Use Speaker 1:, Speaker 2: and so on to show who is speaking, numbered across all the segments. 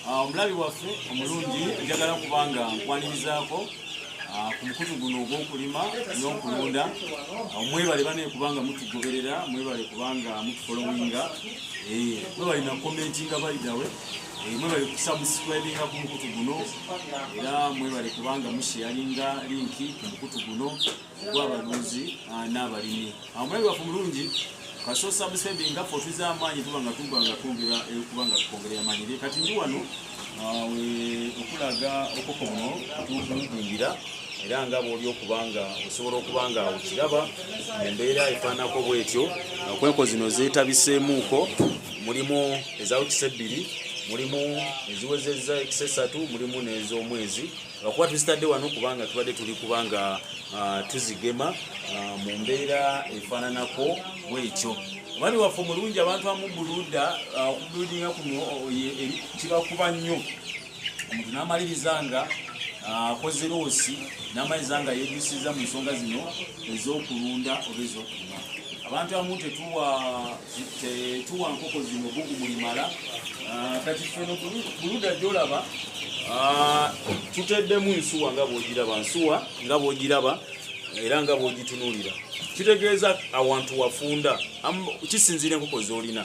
Speaker 1: Ah, omulabi waffe omulungi njagala kubanga nkwanirizaako ah, ku mukutu guno ogw'okulima n'okulunda ah, mwebale banaye kubanga mutugoberera mwebale kubanga mutufolowinga eh, mwebale nakomentinga baidawe eh, mwebale kusubscribinga ku mukutu guno era mwebale kubanga musheyalinga linki ku mukutu guno gw'abalunzi ah, n'abalimi amulabi waffe mulungi kaso sabusebi nga ffe otuza amaanyi tuba nga tuba nga twongera eh, kuba nga tukwongera amaanyi naye kati ndi wano ah, okulaga okoko buno tukulingira era nga bwoli okuba nga osobola okuba nga okiraba embeera efaanako bwetyo okwenko zino zeetabiseemuuko mulimu ezawekisa ebbiri mulimu eziwezezza ekisa esatu mulimu n'ez'omwezi lwakuba tuzitadde wano kubanga tubadde tuli kubanga ah, tuzigema ah, mu mbeera efaananako bwekyo omwami waffe omulungi abantu amubuluda ah, okubuludinga kuno kibakuba nnyo omuntu n'amaliriza nga akoze loosi n'amaliriza nga yeejusiza mu nsonga zino ez'okulunda oba ez'okulima abantu amu tetuwa tetuwa nkoko zino bugu bulimala ah, kati feno buluda gyolaba ah, tuteddemu nsuwa nga bwogiraba nsuwa nga bwogiraba era nga bwogitunulira kitegeeza awantu wafunda kisinziira enkoko zolina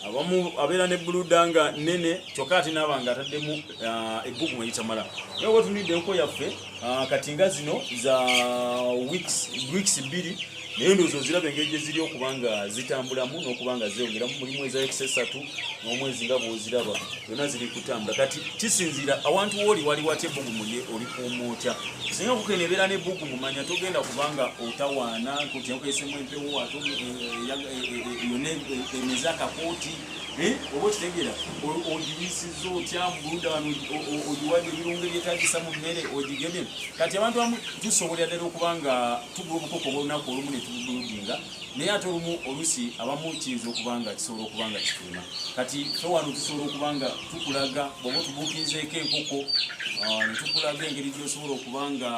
Speaker 1: abamu abeera ne buluda nga nene kyokka ate naaba nga ataddemu ah, ebbugu mwegitamala naye oba tunidde enkoko yaffe Ah, kati nga zino za weeks bbiri naye ndowooza oziraba engeri gye ziri okuba nga zitambulamu n'okuba nga zeeyongeramu mulimu eza weeks esatu n'omwezi nga bw'oziraba zonna ziri kutambula kati kisinziira awantu wooli wali watya ebbugumu lye olikuuma otya singa kukena ebeera n'ebbugumu manya togenda kuba nga otawaana nkutyakesemu empewo ate eh, eh, eh, yonna emeze akakooti Eh, oba okitegera ogibisiza otya mubuluda wano ogiwadde ebirungo ebyetagisa mu mmere ogigemye kati abantu amu tusobolera ddala okuba nga tugula obukoko bwolunaku olumu netubuludinga naye ate olumu olusi abamu kiyinza okuba nga kisobola okuba nga kituuma kati fe wano tusobola okuba nga tukulaga oba otubuukinzeeko enkoko ah, netukulaga engeri gyosobola okuba nga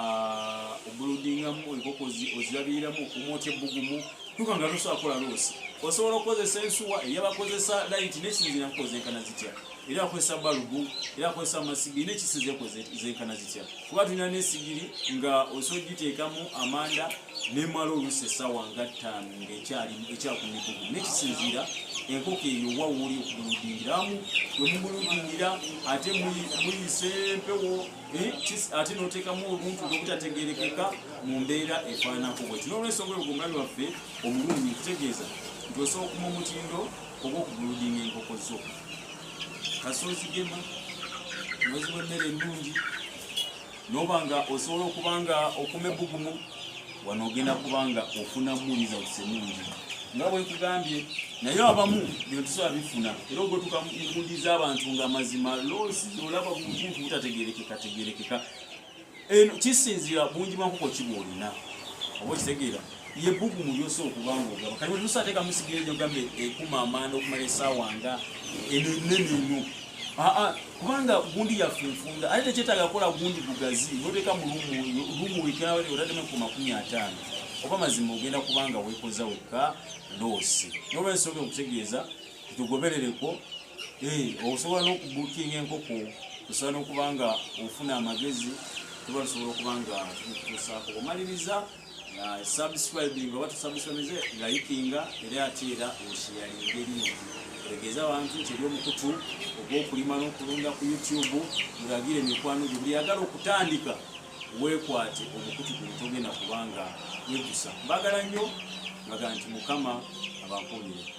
Speaker 1: obuludingamu enkoko ozirabiriramu okumwotya ebbugumu Tuka nga tosobola kukola loosi osobola okukozesa ensuwa eyabakozesa layiti nekisinzira kukoza enkana zitya era akozesa balubu era akozesa amasigiri nekisinzira kukoza enkana zitya kuba tulina nesigiri nga osobola okugiteekamu amanda nemala oluusi essaawa nga ttaano nga ekyakumigugu nekisinzira enkoko eyo wawuli okumuludingiramu wemumuludingira ate muyise empewo Eh, ate notekamu obuntu obutategerekeka mu mbeera efaananako bweti nolwensonga oyo gwomulabi waffe omulungi kutegeeza nti osobola okuma omutindo oba okuguludinga enkoko zo kasi ozigema noziwa emmere ennungi noba nga osobola okuba nga okuma ebbugumu wano ogenda kuba nga ofunamu results ennungi nga bwe nkugambye naye abamu bino tusobola bifuna era ogwetuka enkundi z'abantu nga mazima loosi olaba buntu butategerekeka tegerekeka eno kisinzira bungi bwankoko kiba olina oba okitegeera ye bugu mu lyosa okubanga ogaba kati wetusa ateeka musigeejo gambe ekuma amaanda okumala esaawa nga eno enene eno aa kubanga gundi yaffe nfunda ate tekyetaaga kukola gundi gugazi noteeka mu lumu wiknawe otaddemu ku makumi ataano oba mazima ogenda kubanga wekoza wekka loosi nolwensonga okutegeeza tugoberereko eh, osobola n'okubukinga enkoko osobola n'okuba nga ofuna amagezi tuba tusobola okuba nga tukutuusaako omaliriza nga subscribing oba tusubscribinze layikinga era ate era osheyalinga erimu otegeeza abantu nti eri omukutu ogw'okulima n'okulunda ku youtube ngagire emikwano gyo buli yagala okutandika weekwate omukutu guno togenda kubanga wegusa mbagala nnyo ngaga nti mukama abankuumire